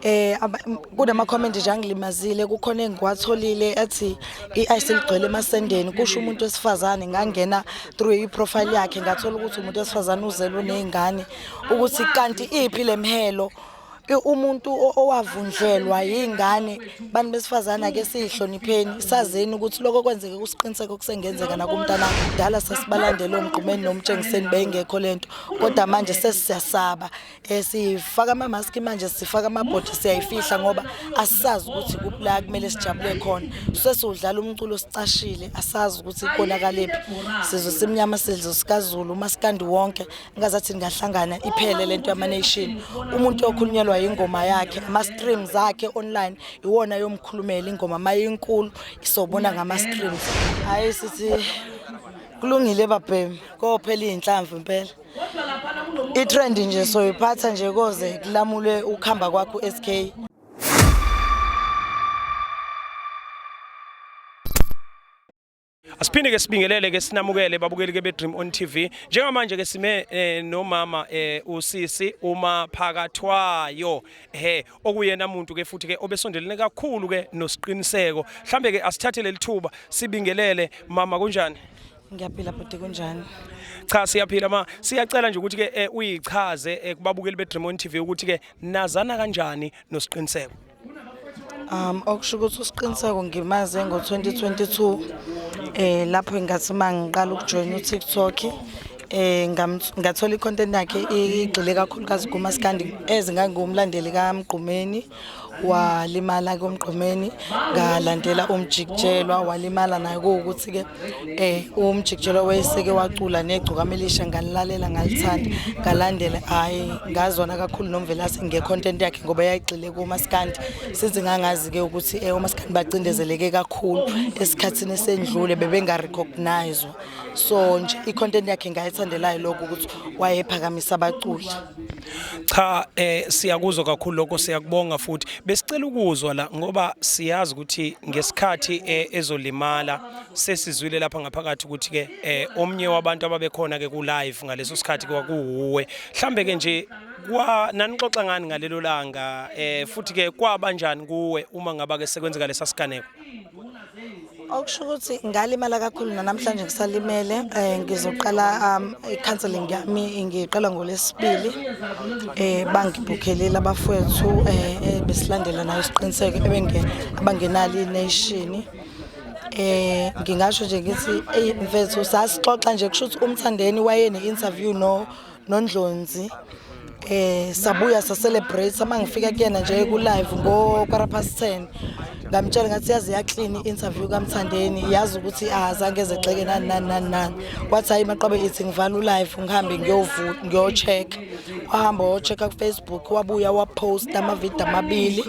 Eh kunama comment nje angilimazile kukhona engiwatholile ethi iIce ligcwele emasendeni kusho umuntu wesifazane ngangena through iprofile yakhe ngathola ukuthi umuntu wesifazane uzelwe nezingane ukuthi kanti iphi lemhelo umuntu owavundlelwa yingane bantu besifazana ke sihlonipheni sazeni ukuthi lokho kwenzeke kusiqiniseke okusengenzeka nakumntana kudala sasibalandela omgqumeni nomtshengiseni beyingekho lento kodwa manje sesiyasaba Eh sifaka ama mask manje sifaka ama body siyayifihla ngoba asazi ukuthi kuphi la kumele sijabule khona. Sesidlala umculo sicashile asazi ukuthi konakaliphi. Sizwe simnyama sizwe sikaZulu umaskandi wonke ngazathi ngahlangana iphele lento yama nation. Umuntu okhulunyelwa ingoma yakhe ama streams akhe online iwona yomkhulumela ingoma mayinkulu isobona ngama streams. Hayi sithi kulungile babhemi kophela izinhlamvu impela. itrend nje soyiphatha nje koze kulamule ukuhamba kwakho SK Asiphinde ke sibingelele ke sinamukele babukeli ke be Dream on TV. Njengamanje ke sime eh, nomama eh, usisi uma phakathwayo he okuyena umuntu ke futhi ke obesondelene kakhulu ke nosiqiniseko. Mhlambe ke asithathe lelithuba sibingelele mama kunjani? Ngiyaphila bhuti kunjani? Cha siyaphila ma siyacela nje ukuthi ke eh, uyichaze eh, kubabukeli beDream on TV ukuthi ke nazana kanjani nosiqiniseko. Um okusho ukuthi usiqiniseko ngimaze ngo-2022 eh lapho ngathi mangiqala ukujoyina uTikTok eh ngathola icontent yakhe igxile kakhulukazi kumaskandi ezingangiwumlandeli kaMgqumeni walimala ke umgqumeni ngalandela umjikijelwa walimala naye kuwukuthi ke eh umjikijelwa wayeseke wacula negcukamelisha ngalilalela ngalithanda ngalandela hayi ngazwana kakhulu nomvelase ngecontent yakhe ngoba yayigxile kumaskandi sithi ngangazi ke ukuthi eh umaskandi bacindezeleke kakhulu esikhathini esendlule bebengarecognizwa so nje icontent yakhe ngayithandelayo lokho ukuthi wayephakamisa abaculi Cha eh siyakuzwa kakhulu lokho siyakubonga futhi besicela ukuzwa la ngoba siyazi ukuthi ngesikhathi eh, ezolimala sesizwile lapha ngaphakathi ukuthi ke eh omnye wabantu ababekhona ke ku live ngaleso sikhathi kwakuwe mhlambe ke nje kwa nanixoxa ngani ngalelo langa eh futhi ke kwaba njani kuwe uma ngaba ke sekwenzeka lesasiganeko okusho ukuthi ngalimala kakhulu nanamhlanje ngisalimele um ngizoqala um, i-counseling yami ngiqala ngolesibili um bangibhukhelile abafowethu um besilandela nayo isiqiniseko abangenalo ineshini eh ngingasho nje ngithi ey mfethu sasixoxa nje kusho ukuthi umthandeni wayene interview no nondlonzi eh sabuya sa celebrate uma ngifika kuyena nje ku live ngo quarter past 10 ngamtshela ngathi yazi ya clean interview kamthandeni yazi ukuthi azange ezexeke nani nani nani nani wathi hayi maqabe ithi ngivala u live ngihambe ngiyovu ngiyo check wahamba wo check ku Facebook wabuya wa post ama video amabili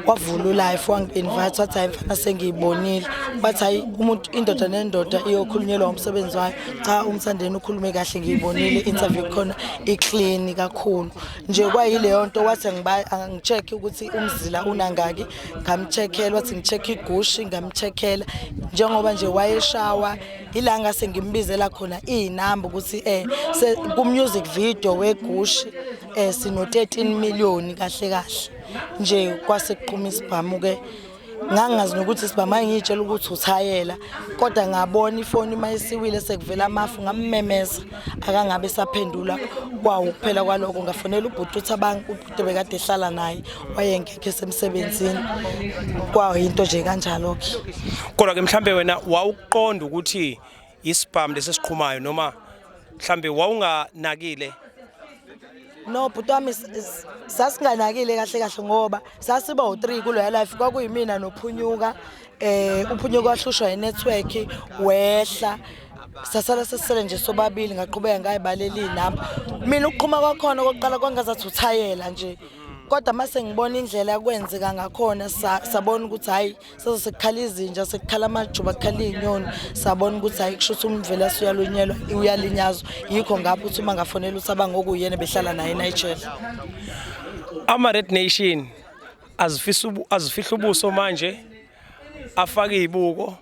wavula u live wang invite wathi hayi mfana sengiyibonile wathi hayi umuntu indoda nendoda iyokhulunyelwa umsebenzi wayo cha umthandeni ukhulume kahle ngiyibonile interview khona iclean kakhulu nje kwayileyo nto wathi ngicheck ukuthi umzila unangaki ngamcheckela wathi ngicheck igushi ngamcheckela njengoba nje wayeshawa ilanga sengimbizela khona izinamba ukuthi eh ku music video wegushi eh sino 13 million kahle kahle nje kwase kuqhuma isibhamu ke ngangingazi nokuthi sibama ngiyitshela ukuthi uthayela kodwa ngabona ifoni uma isiwile sekuvela amafu ngammemeza akangabe esaphendula kwawo kuphela kwaloko ngafonela ubhuti uthi abantu ubhuti bekade ehlala naye wayengekho esemsebenzini kwawo yinto nje kanjalo-ke kodwa-ke mhlawumbe wena wawuqonda ukuthi isibhamu lesi esiqhumayo noma mhlambe wawunganakile no bhuti wami sasinganakile kahle kahle ngoba sasiba u-three kuloya life kwakuyimina nophunyuka um uphunyuka wahlushwa yi-network wehla sasala sesisele nje sobabili ngaqhubeka ngayibaleli inamba mina ukuqhuma kwakhona okokuqala kwangazathi uthayela nje kodwa uma sengibona indlela kwenzeka ngakhona sabona ukuthi hhayi sase sekukhala izinja sekukhala amajuba kukhala iy'nyoni sabona ukuthi hhayi kusho ukuthi umvela suyalonyelwa uyalinyazwa yikho ngapho ukuthi uma ngafonela ukuthi abangokuyena behlala naye enigel ama-red nation azifihla ubuso manje afake iy'buko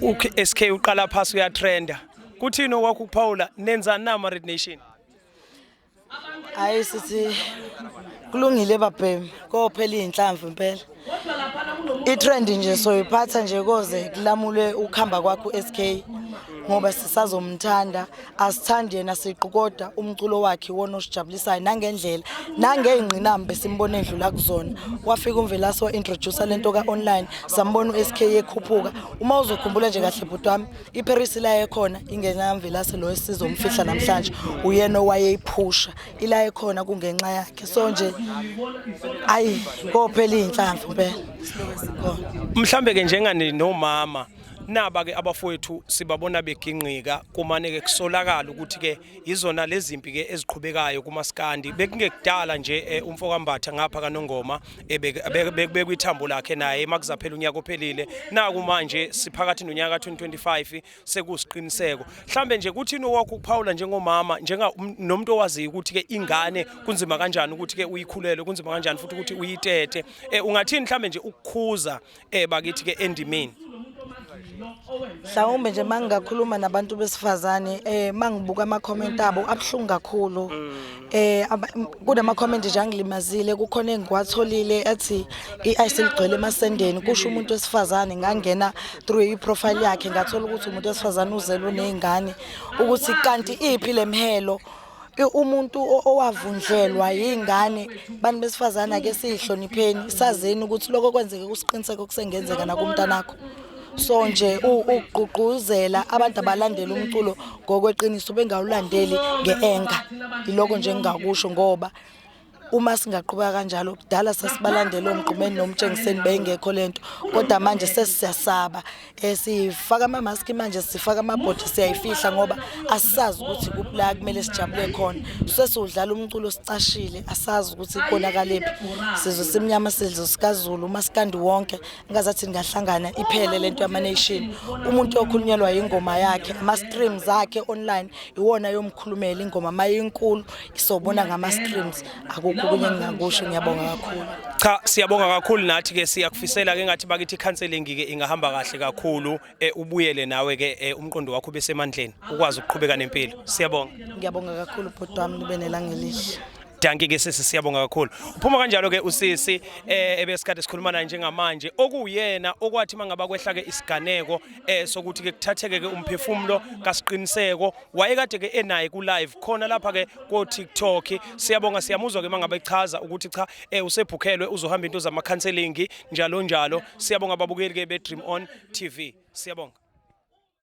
uSK uqala phasi uyatrenda kuthini okwakho ukuphawula nenzani na ama-red nation hayi sithi kulungile babhemi kophela iy'nhlamvu impela i-trend nje soyiphatha nje koze kulamule ukuhamba kwakho u-sk ngoba sisazomthanda asithandi yena siqu kodwa umculo wakhe wona osijabulisayo nangendlela nangey'ngqinamba besimbona edlula kuzona wafika umvelasi wa-introducer le nto ka-online sambona u-sk yekhuphuka uma uzokhumbula nje kahle bhuti wami iparis ila ekhona ingenamvelase lo esizomfihla namhlanje uyena owayeyiphusha ila ekhona kungenxa yakhe so nje ayi kophela iy'nhlamvu impela mhlawumbe-ke njengani nomama naba-ke abafowethu sibabona beginqika kumane-ke kusolakala ukuthi-ke Izona lezimpi ke eziqhubekayo kumaskandi bekungekudala nje eh, umfokambatha ngapha kanongoma eh, bekubekwe ithambo lakhe naye makuzaphela unyaka ophelile naku manje siphakathi nonyaka 2025 sekusiqiniseko mhlambe nje kuthini owakho ukuphawula njengomama njenga um, nomuntu owaziyo ukuthi ke ingane kunzima kanjani ukuthi ke uyikhulele kunzima kanjani futhi ukuthi uyitete eh, ungathini mhlambe nje ukukhuza eh bakithi ke endimeni mhlawumbe nje mangingakhuluma nabantu besifazane eh mangibuka ama comment abo abhlungu kakhulu eh aba- m- kunama comment nje angilimazile kukhona engiwatholile ethi iIce ligcwele emasendeni kusho umuntu wesifazane ngangena through i profile yakhe ngathola ukuthi umuntu wesifazane uzelwe nezingane ukuthi kanti iphi lemhelo umuntu owavundlelwa yingane bantu besifazane ake siyihlonipheni sazeni ukuthi lokho kwenzeke kusiqiniseko kusengenzeka nakumntanakho so nje ukugqugquzela abantu abalandela umculo ngokweqiniso bengawulandeli ngeanger iloko nje engingakusho ngoba uma singaqhubeka kanjalo kudala sasibalandela omgqumeni nomtshengiseni beyingekho lento kodwa manje sesiyasaba eh, sifaka ama mask manje sifaka ama body siyayifihla ngoba asisazi ukuthi kuphi la kumele sijabule khona sesiwudlala umculo sicashile asazi ukuthi konakaliphi sizwe simnyama sizwe sikaZulu umaskandi wonke ngazathi ningahlangana iphele lento yamanation umuntu okhulunyelwa ingoma yakhe ama streams akhe online iwona yomkhulumela ingoma mayinkulu isobona ngama streams akukho kunye ngingakusho ngiyabonga kakhulu cha siyabonga kakhulu nathi ke siyakufisela ke ngathi bakithi counseling ke ingahamba kahle kakhulu eh, ubuyele nawe ke eh, umqondo wakho besemandleni ukwazi ukuqhubeka nempilo siyabonga ngiyabonga kakhulu bhuti wami nibe nelangelihle Dankie ke sisi siyabonga kakhulu. Uphuma kanjalo ke usisi eh ebesikade sikhuluma naye njengamanje okuyena okwathi mangaba kwehla ke isiganeko eh sokuthi ke kuthatheke ke umphefumulo kasiqiniseko wayekade ke enaye ku live khona lapha ke ko TikTok siyabonga siyamuzwa ke mangaba echaza ukuthi cha eh usebhukhelwe uzohamba into zama counseling njalo njalo siyabonga babukeli ke be Dream On TV siyabonga